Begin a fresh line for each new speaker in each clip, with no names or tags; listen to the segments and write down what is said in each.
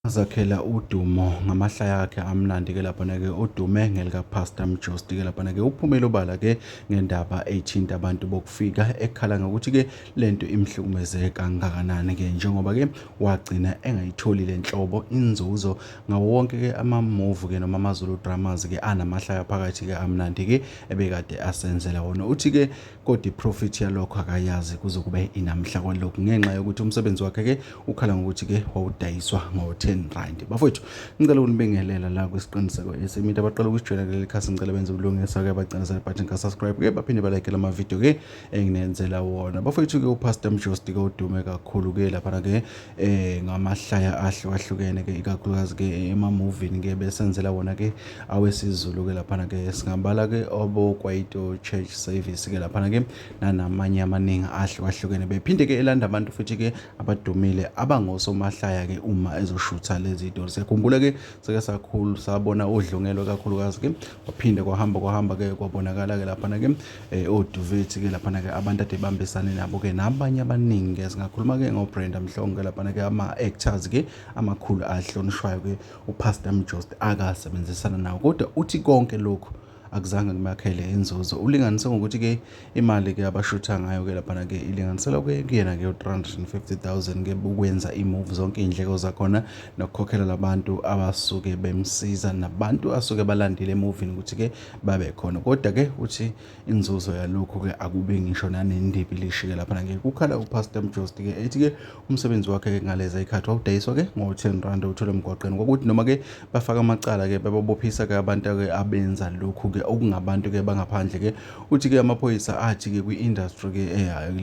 azakhela udumo ngamahlaya akhe amnandi ke laphana ke udume ngelika Pastor Mjosti ke laphana ke uphumele obala ke ngendaba ethinta abantu bokufika ekhala ngokuthi ke lento imhlukumeze kangakanani ke njengoba ke wagcina engayitholi lenhlobo inzuzo ngawo wonke ke ama move ke noma amazulu dramas ke anamahlaya phakathi ke amnandi ke ebekade asenzela wona uthi ke kodwa iprofit yalokho akayazi kuze kube inamhla kwalokhu ngenxa yokuthi umsebenzi wakhe ke ukhala ngokuthi ke wawudayiswa ngo-10 rand bafowethu ngicela ukunibingelela la kwisiqiniseko esimita abaqala ukusijwela kuleli khasi ngicela benze ubulungisa ke bacinezele button ka-subscribe ke baphinde balike la mavidiyo ke enginenzela wona bafowethu ke upastor mjosti ke udume kakhulu ke laphana ke eh ngamahlaya ahlukahlukene ke ikakhulukazi ke emamovini ke besenzela wona ke awesizulu ke laphana ke singabala ke obokwaito church service ke laphana ke nanamanye amaningi ahlukahlukene bephinde ke elanda abantu futhi ke abadumile abangosomahlaya ke uma ezoshutha lezi itori siyakhumbula ke sike sakhulu sabona udlungelo kakhulukazi ke waphinde kwahamba kwahamba ke kwabonakala ke laphana ke eh oduvethi ke laphana ke abantu ade bambisane nabo ke nabanye abaningi ke singakhuluma ke ngoBrenda Mhlongo ke laphana ke ama actors ke amakhulu ahlonishwayo ke uPastor Mjost akasebenzisana nawo kodwa uthi konke lokho akuzange kumakhele inzuzo ulinganise ngokuthi ke imali ke abashutha ngayo ke laphana ke ilinganisela ke kuyena ke 350000 ke ukwenza imove zonke indleko zakhona nokukhokhela labantu abasuke bemsiza nabantu asuke balandile emovini ukuthi ke babe khona kodwa ke uthi inzuzo yalokhu ke akube ngisho nanendibi lishike lapha ngeke kukhala upastor Mjosti ke ethi ke umsebenzi wakhe ke ngaleza ikhathi wawudayiswa ke ngo-10 rand uthole emgwaqeni kokuthi noma ke bafaka amacala ke bababophisa ke abantu ke abenza lokhu ke okungabantu ke bangaphandle ke uthi ke amaphoyisa athi ke kwi-industry ke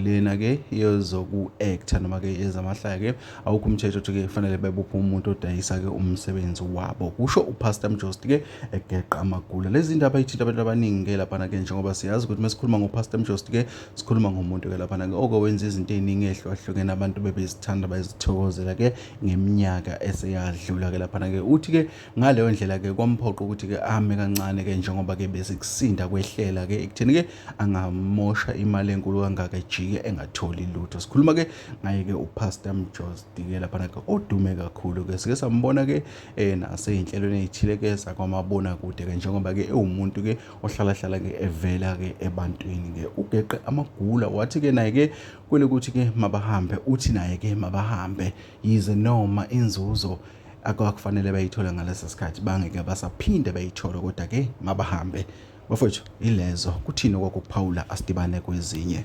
lena ke yezoku-actor noma ke yezamahlaya ke awukho umthetho othi ke kufanele bebophe umuntu odayisa ke umsebenzi wabo kusho upastor Mjosti ke egeqa amagula lezi ndaba ithinta abantu abaningi ke laphana ke njengoba siyazi ukuthi mesikhuluma ngopastor mjost ke sikhuluma ngomuntu ke laphana ke oko wenza izinto eziningi ehlukahlukene abantu bebezithanda bayizithokozela ke ngeminyaka eseyadlula ke laphana ke uthi ke ngaleyo ndlela ke kwamphoqa ukuthi ke ame kancane ke njengoba ke besikusinda kwehlela ke ekutheni ke angamosha imali enkulu kangaka ejike engatholi lutho sikhuluma ke ngaye ke upastor mjost ke laphana ke odume kakhulu ke sike sambona ke eh naseyinhlelweni ezithilekeza kwamabona kude ke njengoba ke ewumuntu ke ohlala hlala ke evela ke ebantwini ke ugeqe amagula wathi ke naye ke kwele kuthi ke mabahambe uthi naye ke mabahambe yize noma inzuzo akwakufanele bayithola ngalesi sikhathi bangeke basaphinde bayithola kodwa ke mabahambe bafowethu ilezo kuthini okwakuphawula asidibane kwezinye